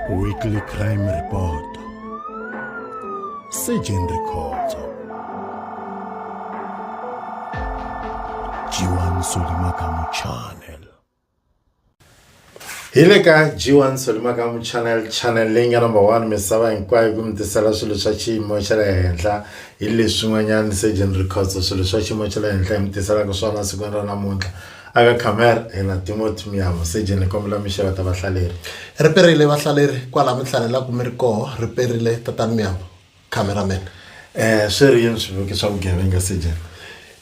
Weekly Crime Report Surgeon Records Jiwan Solimakamu Channel hi le ka g1 solimakamu channel channel leyi nga number one misava hinkwayo ku mi tisela swilo swa xiyimo xa le henhla hi leswin'wanyana surgeon records swilo swa xiyimo xa le henhla hi mi tiselaka swona sikwini ra namuntlha Aka Kamer hina Timothy Miyavo Seje ni kombela mi xeweta vahlaleri. Ri perile vahlaleri kwala mi hlalelaku mi ri koho ri perile tatani Miyavo camera man. Eh swi ri yini swivuki swa vugevenga Sejen?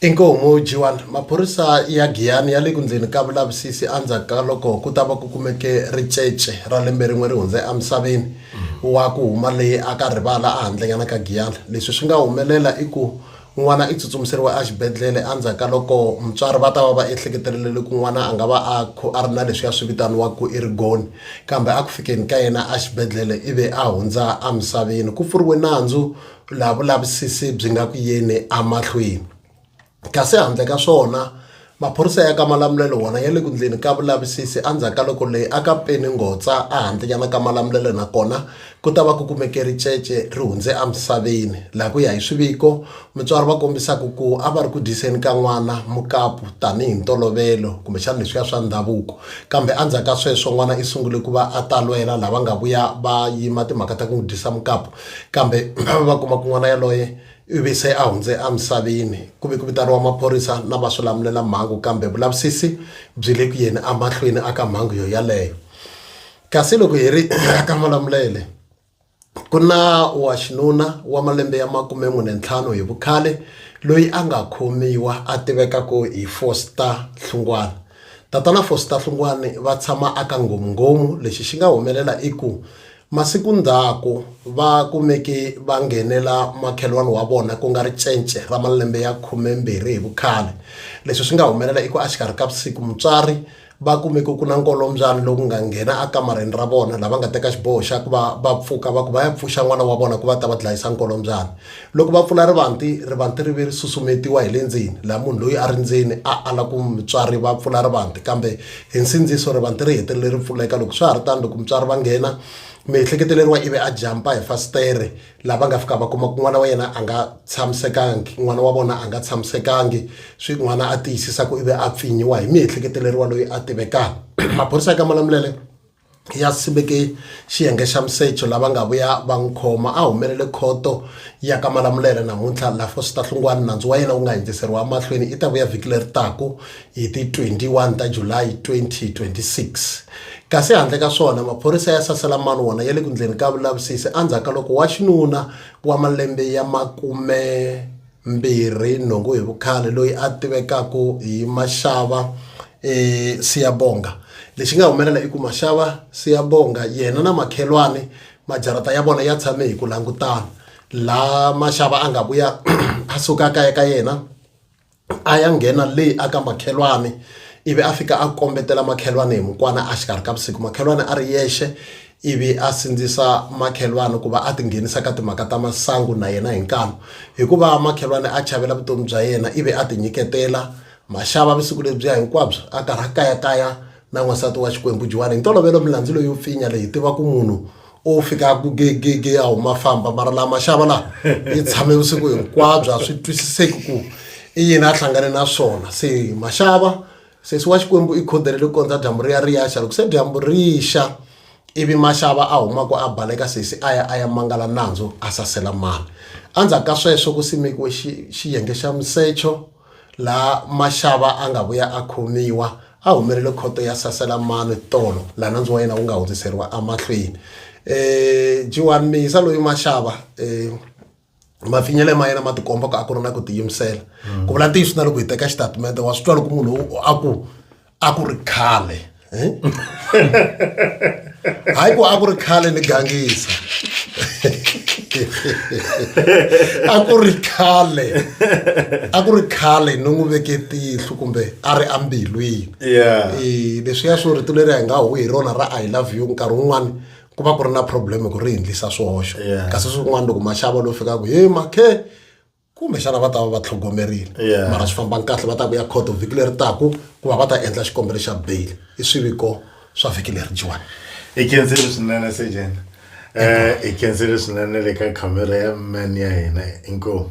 Inkomu G1, Maphorisa ya Giyani ya le ku ndleni ka vulavisisi endzhaku ka loko ku ta va ku kumeke ricece ra lembe rin'we ri hundze emisaveni wa ku huma leyi aka rivala ehandlenyana ka Giyani. Leswi swi nga humelela i ku N'wana i tsutsumiseriwe exibedhlele endzhaku ka loko mutswari va ta va va ehleketelele loko n'wana a nga va a a ri na leswiya swi vitaniwaka ku i rigoni kambe a ku fikeni ka yena exibedhlele ivi a hundza emisaveni ku pfuriwe nandzu laha vulavisisi byi nga ku yeni emahlweni kasi handle ka swona Maphorisa ya ka Malamulele wona ya le ku ndleni ka vulavisisi endzhaku ka loko leyi a ka peni ngotsa ehandlenyana ka Malamulele nakona ku ta va ku kumeke ricece ri hundze emisaveni laha ku ya hi swiviko mutswari va kombisaka ku a va ri ku dyiseni ka n'wana mukapu tanihi ntolovelo kumbexana leswiya swa ndhavuko kambe endzhaku ka sweswo n'wana i sungule ku va a talwela lava nga vuya va yima timhaka ta ku n'wi dyisa mukapu kambe va va kuma ku n'wana yaloye ivi se a hundze emisaveni ku ve ku vitaniwa maphorisa na va swi lamulela mhangu kambe vulavisisi byi le ku yeni emahlweni aka mhangu yo yaleyo kasi loko hi ri aka malamulele ku na wa xinuna wa malembe ya makume n'we ne ntlhanu hi vukhale loyi a nga khomiwa a tiveka ku hi foster hlungwana tatana foster hlungwani va tshama aka nghomungomu lexi xi nga humelela i ku Masiku ndzhaku, va kumeke va nghenela makhelwani wa vona ku nga ri cence ra malembe ya khumembirhi hi vukhale. Leswi swi nga humelela i ku axikarhi ka vusiku mutswari va kumeke ku na nkolombyani lowu nga nghena ekamareni ra vona la va nga teka xiboho xa ku va va pfuka va ku va ya pfuxa n'wana wa vona ku va ta va dlayisa nkolombyani. Loko va pfula rivanti, rivanti ri ve ri susumetiwa hi le ndzeni, laha munhu loyi a ri ndzeni a ala ku mutswari va pfula rivanti. Kambe hi nsindziso, rivanti ri hetelele ri pfuleka. Loko swi ha ri tano, loko mutswari va nghena, miehleketeleriwa ivi a jampa hi fasitere, laha va nga fika va kuma ku n'wana wa yena a nga tshamisekangi, n'wana wa vona a nga tshamisekangi, swi n'wana a tiyisisa ku ivi a pfinyiwa hi miehleketeleriwa loyi a tivekaka. Maphorisa ya ka Malamulele, ya simeke xiyenge xa Msecho lava nga vuya va n'wi khoma a humelele khoto ya ka Malamulele namuntlha la Fositahlungwani nandzu wa yena wu nga hindziseriwa emahlweni i ta vuya vhiki leri taku hi ti 21 ta July 2026 kasi handle ka swona maphorisa ya sasela mani wona ya le ku ndleni ka vulavisisi endzhaku ka loko wa xinuna wa malembe ya makume mbirhi nhungu hi vukhale loyi a tivekaka hi Mashava eh, Siyabonga lexi nga humelela i ku Mashava Siyabonga yena na makhelwani majarata ya vona ya tshame hi ku langutana la Mashava a nga vuya a suka kaya ka yena a ya nghena le aka makhelwani ivi a fika a kombetela makhelwani hi mukwana a xikarhi ka vusiku makhelwani a ri yexe ivi a sindzisa makhelwani ku va a tinghenisa ka timhaka ta masangu na yena hi nkanu hikuva makhelwani a chavela vutomi bya yena ivi a tinyiketela maxava vusiku lebyiya hinkwabyo a karhi a kayakaya na n'wansati wa xikwembu juwani hi ntolovelo milandzu leyi yo pfinya leyi tiva ku munhu o fika ku gegege a huma famba mara laha maxava laha yi tshame vusiku hinkwabyo a swi twisiseki ku i yini a hlangane na swona se maxava sesi wa xikwembu i khodele loko kondza dyambu ri ya ri yaxa loko se dyambu ri xa ivi maxava a humaka a baleka sesi a ya a ya mangala nandzu a sasela mani endzhaku ka sweswo ku simekiwe xiyenge xa musecho laha maxava a nga vuya a khomiwa a humelele khoto ya sasela mani tolo laha nandzu wa yena wu nga hundziseriwa emahlweni um jiwani miyisa loyi maxava um mafinyele ma yena ma tikomba ku a ku ri na ku tiyimisela ku vula ntiyiso na loko hi teka xitatimende wa swi twa loko munhu a ku a ku ri khale eh? hayi ku a ku ri khale ni gangisa a ku ri khale a ku ri khale ni n'wi veke tihlo kumbe a ri ambilwini eh, leswiya swo rito leri a hi nga huhi hi rona ra i love you nkarhi wun'wani ku va ku ri na problem ku ri hindlisa swihoxo kasi swin'wana loko maxava lowu fikaka he makhe kumbexana va ta va va tlhogomerile mara swi fambanga kahle va ta ku ya court vhiki leri taku ku va va ta endla xikombelo xa bail i swiviko swa vhiki leri jiwani i kensile swinene sejen um i kensile swinene le ka khamera ya man ya hina inkomu